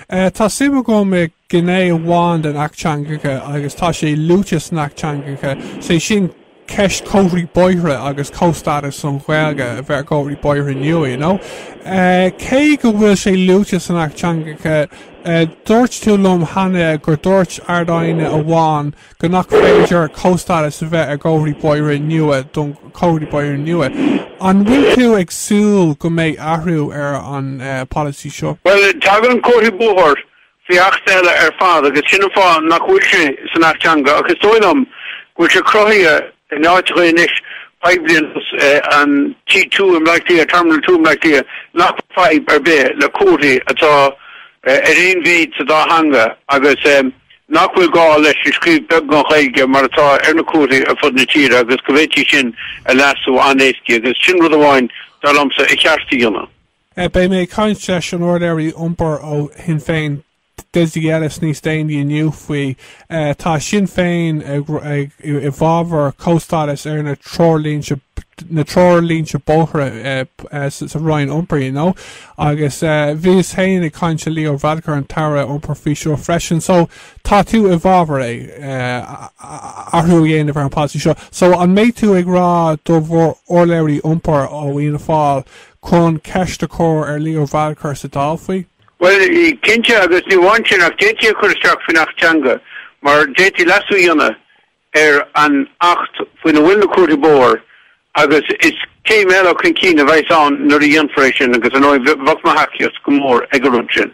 Tá suim agam i gné amháin den Acht Teangacha agus tá sé luaite san Acht Teangacha, is é sin ceist comharthaí bóithre nua agus comhstádas don Ghaeilge a bheith ar chomharthaí bóithre nua, you know. Cé go bhfuil sé luaite san Acht Teangacha, dúirt tú liom cheana gur dhúirt Ard-Aighne amháin go nach féidir comhstádas a bheith ar chomharthaí bóithre nua do na comharthaí bóithre nua. An bhfuil tú ag súil go mbeidh athrú ar an bpolasaí seo? Bhuel, tagann comharthaí bóthair faoi Acht eile ar fad agus sin an fáth nach bhfuil sé san Acht Teanga ach is dóigh liom go bhfuil sé cruthaithe in áiteacha anois, poiblí ar nós an T2 i mBleá Cliath, Terminal Two i mBleá Cliath, nach bhfuil fadhb ar bith le comharthaí atá ar aon mhéid sa dá theanga agus nach bhfuil gá leis an scríobh beag i nGaeilge mar atá ar na comharthaí ar fud na tíre agus go bhféadfaí sin a leasú an-éasca agus sin rud amháin, dar liomsa, ba cheart a dhéanamh. Beidh mé ag caint leis an urlabhraí iompair ó Shinn Féin, Dessie Ellis níos déanaí inniu faoi. Tá Sinn Féin i bhfabhar comhstádas ar na treoirlí- na treoirlínte bóithre sa Roinn Iompair, you know. Agus bhíos féin ag caint le Leo Varadkar an tAire Iompair faoi seo freisin. So, tá tú i bhfabhar é, athrú a dhéanamh ar an policy seo. So, an mbeidh tú ag rá le bhur urlabhraí iompair ó Fhianna Fáil chun ceist a chur ar Leo Varadkar sa Dáil faoi? Bhuel, cinnte, agus ní amháin sin ach d'fhéadfaí a chur isteach faoin Acht Teanga mar d'fhéadfaí leasú a dhéanamh ar an Acht faoina bhfuil na comharthaí bóthair agus is céim eile chun cinn a bheas ann nuair a dhéanfar é sin agus ar ndóigh bheadh mo thacaíocht go mór ag an rud sin.